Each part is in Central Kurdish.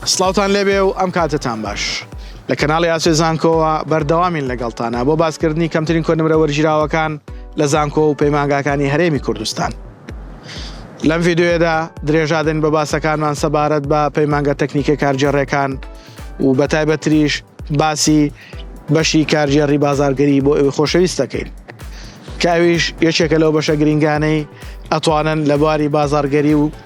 سڵاوتان لێبێ و ئەم کاتەتان باش. لە کەناڵی ئاسۆی زانکۆوە بەردەوامین لەگەڵتانا بۆ باسکردنی کەمترین کۆنمرە وەرگیراوەکان لە زانکۆ و پەیمانگاکانی هەرێمی کوردستان. لەم ڤیدیۆیەدا درێژا دەین بە باسەکانمان سەبارەت بە پەیمانگە تەکنیکە کارگێڕێکان و بە تایبەتریش باسی بەشی کارگێڕی بازارگەری بۆ ئەوی خۆشەویست دەکەین کە ئەویش یەکێکە لەو بەشە گرنگانەی ئەتوانن لە بواری بازارگەری و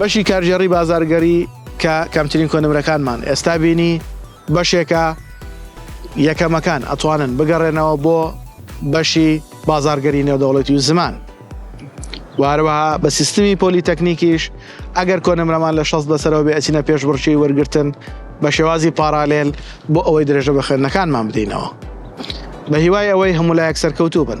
بەشی کارگێڕی بازاڕگەری کە کەمترین کۆنمرەکانمان ئێستا بینی بەشێکە یەکەمەکان ئەتوانن بگەڕێنەوە بۆ بەشی بازاڕگەری نێودەوڵەتی و زمان وارەوەها بە سیستمی پۆلیتەکنیکیش ئەگەر کۆنمرەمان لە شەست بەسەرەوە بێ ئەچینە پێش بڕچی وەرگتن بە شێوازی پارالێل بۆ ئەوەی درێژە بە خوێندنەکانمان بدەینەوە بە هیوای ئەوەی هەمولایەک سەرکەوتوو بن.